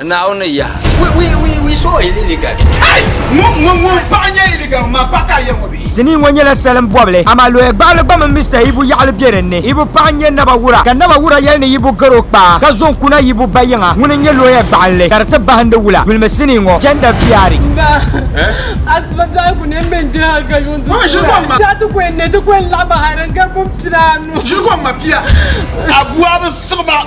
Naawuni yaha. We saw a illegal. Hey! Ŋun paɣa nyɛ illegal maa pa ka ya ŋɔ bee? Sinii ŋɔ nyɛla salin bɔbili amaa lɔya gbaɣili gba mini Mister Ibu yaɣili be din ni. Ibu paɣa n-nyɛ Naba Wura ka Naba Wura yɛli ni Ibu gar o kpaa ka zo n-kuna Ibu ba yiŋa ŋuni n-nyɛ lɔya gbaɣinli ka di ti bahindi wula dulimi sinii ŋɔ Gender Viari. Nga asiba dɔɣi ku ne m-be n-diri hal ka yuŋ ti su a. Daa ti ku n-ne ti ku n-laɣim hal din gari pumpinaanu. Ʒiri kom ma pia. Abu a bi siɣi ba.